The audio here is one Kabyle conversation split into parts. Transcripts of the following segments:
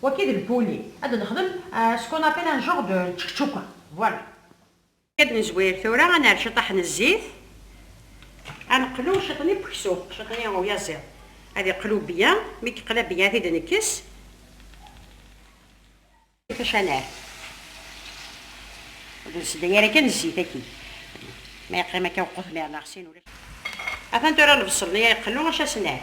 Waki d lpuli, ad d-nexdem ce qu'on appelle un genre de tchekchouka. Voilà. Ad nezwir tura, ad nerr ciṭṭaḥ n zzit, ad neqlu ciṭ n ipeksu, ciṭ n uyaziḍ, ad iqlu byen, mi yeqla byen ad t-id-nekkes. Ifac ad nerr, ur d-nsedday ara kan zzit-agi, ma yeqqim akka wequt mi rneɣ sin ulac. Atan tura lebṣel-nni iqlu, acu ad s-nerr?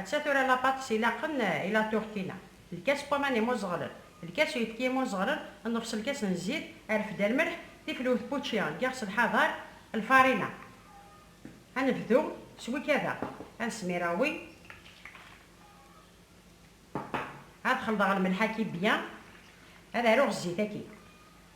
Atta tura lapatis ilaqen i la turtina, lkas n waman imuẓeɣlen, lkas n uyefki imuẓeɣlen, nnefṣ lkas n zzit, arfed, lmelḥ, tifelwt n wučči n yiɣes n lḥader, lfarina. Ad nebdu s wikada. Ad smireɣ wi. Ad xelḍeɣ lmelḥ-agi byan. Ad aruɣ zzit-agi.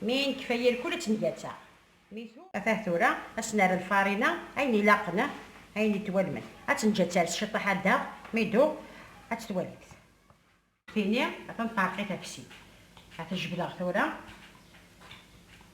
Mi nekfa yir kul ad tt-ngatsa. Atah tura ad s-nerr lfarina ayen ilaqen, ayen ittwalmen. Ad tt-neǧǧ ad ters ciṭ aḥaddaɣ, mi iduɣ ad tt-twalimt. Tini ad tenṭerq i tafsit. Ad t-jebdeɣ tura.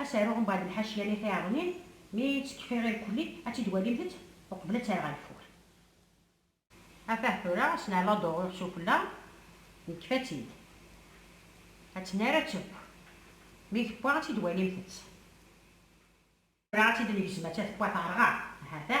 Ad s-aruɣ mbeɛd lḥaciya-nni tiɛeḍmin, mi ttekfiɣ irkelli, ad tt-id-walimt-t uqbel ad tt-rreɣ ageffur. Afah tura s lɛella d-uɣiɣ sufella, nekfa-tt-id. Ad tt-nerr ad teww. Mi tewwa ad tt-id-walimt-tt. Tura ad tt-id-negzem atta tewwa terɣa, ha-t-a.